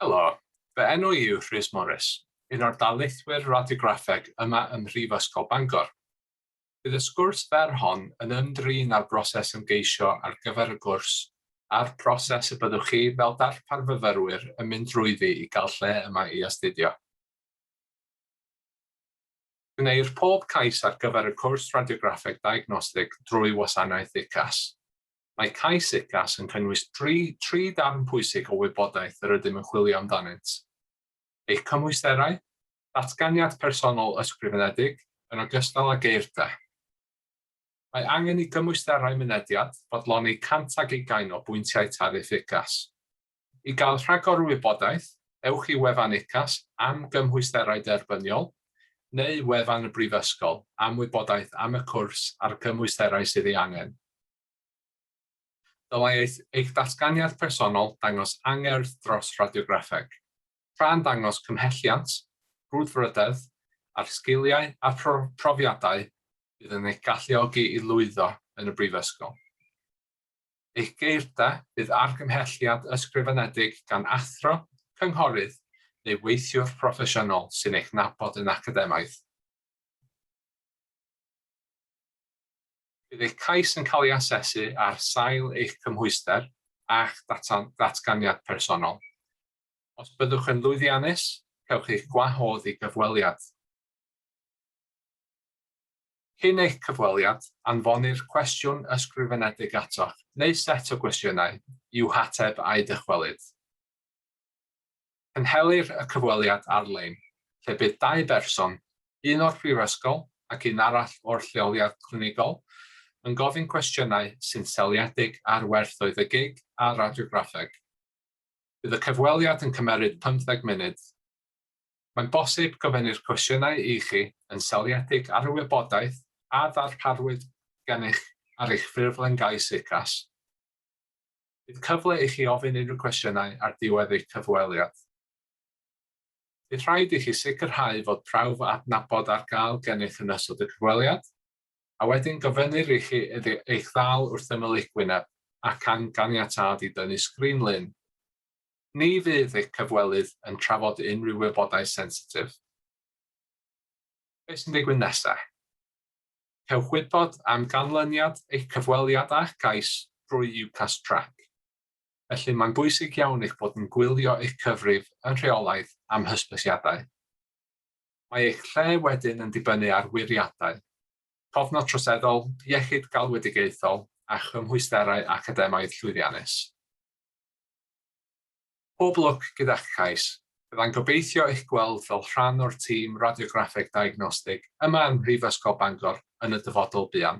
Helo, fy enw i yw Rhys Morris, un o'r darlithwyr radiograffeg yma ym Mhrifysgol Bangor. Bydd y sgwrs fer hon yn ymdrin â'r broses ymgeisio ar gyfer y gwrs a'r proses y byddwch chi fel darparfyfyrwyr yn mynd drwyddi i gael lle yma i astudio. Gwneir pob cais ar gyfer y cwrs Radiograffeg Diagnostig drwy wasanaeth UCAS. Mae cais UCAS yn cynnwys tri tri darn pwysig o wybodaeth yr ydym yn chwilio amdanynt, eich cymwysterau, datganiad personol ysgrifenedig, yn ogystal â geirda. Mae angen i gymwysterau mynediad fodloni 100 ag ugain o bwyntiau tariff UCAS. I gael rhagor o wybodaeth, ewch i wefan UCAS am gymhwysterau derbyniol, neu wefan y Brifysgol am wybodaeth am y cwrs a'r cymwysterau sydd ei angen. Dylai eich datganiad personol dangos angerdd dros radiograffeg, tra'n dangos cymhelliant, brwdfrydedd, a'r sgiliau a phrofiadau fydd yn eich galluogi i lwyddo yn y Brifysgol. eich geir da, bydd argymhelliad ysgrifenedig gan athro, cynghorydd neu weithiwr proffesiynol sy'n eich nabod yn academaidd. Bydd eich cais yn cael ei asesu ar sail eich cymhwyster a'ch datganiad personol. Os byddwch yn lwyddiannus, cewch eich gwahodd i gyfweliad. Cyn eich cyfweliad, anfonir cwestiwn ysgrifenedig atoch, neu set o gwestiynau, i'w hateb a'i dychwelyd. Cynhelir y cyfweliad ar-lein, lle bydd dau berson, un o'r Prifysgol ac un arall o'r lleoliad clinigol, yn gofyn cwestiynau sy'n seiliedig ar werthoedd y gig a radiograffeg. Bydd y cyfweliad yn cymeryd pymtheg munud. Mae'n bosib gofynnir cwestiynau i chi yn seiliedig ar y wybodaeth a ddarparwyd gennych ar eich ffurflen gais UCAS. Bydd cyfle i chi ofyn unrhyw gwestiynau ar ddiwedd eich cyfweliad. Bydd rhaid i chi sicrhau fod prawf adnabod ar gael gennych yn ystod y cyfweliad, a wedyn gofynnir i chi iddi eich ddal wrth ymyl eich wyneb ac am ganiatâd i dynnu sgrin-lun. Ni fydd eich cyfwelydd yn trafod unrhyw wybodaeth sensitif. Beth sy'n digwydd nesaf? Cewch wybod am ganlyniad eich cyfweliad â'ch cais drwy UCAS Track. Felly, mae'n bwysig iawn eich bod yn gwylio eich cyfrif yn rheolaidd am hysbysiadau. Mae eich lle wedyn yn dibynnu ar wiriadau, cofnod troseddol, iechyd galwedigaethol a chymhwysterau academaidd llwyddiannus. Pob lwc gyda'ch cais. Bydda'n gobeithio eich gweld fel rhan o'r tîm radiograffeg diagnostig yma ym Mhrifysgol Bangor yn y dyfodol buan.